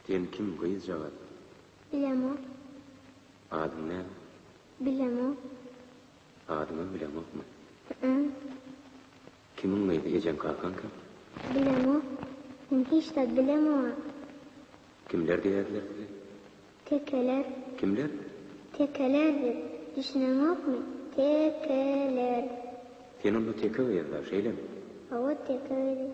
Sen kim gyzjagaz? Bilemok. Adyň näme? Bilemok. Adyňam bileňokmy? Hü-ü. Kimiň gyzy, ejeň-kakaň kim? Bilemok. Men hiç zat bilemok-a. Kimler diýerler size? Tekeler. Kimler? Tekeler diýip, düşüneňokmy? Te-ke-ler. Sen onda teke gyz-da, şeýlemi? Hawa, teke gyz.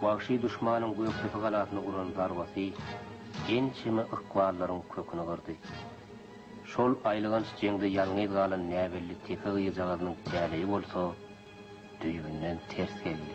Wagşy duşmanyň Gökdepe galasyna uran zarbasy ençeme ykballaryň köküni gyrdy. Şol aýylganç jeňde ýalňyz galan näbelli tepe gyzjagazynyň täleýi bolsa, düýbünden ters geldi.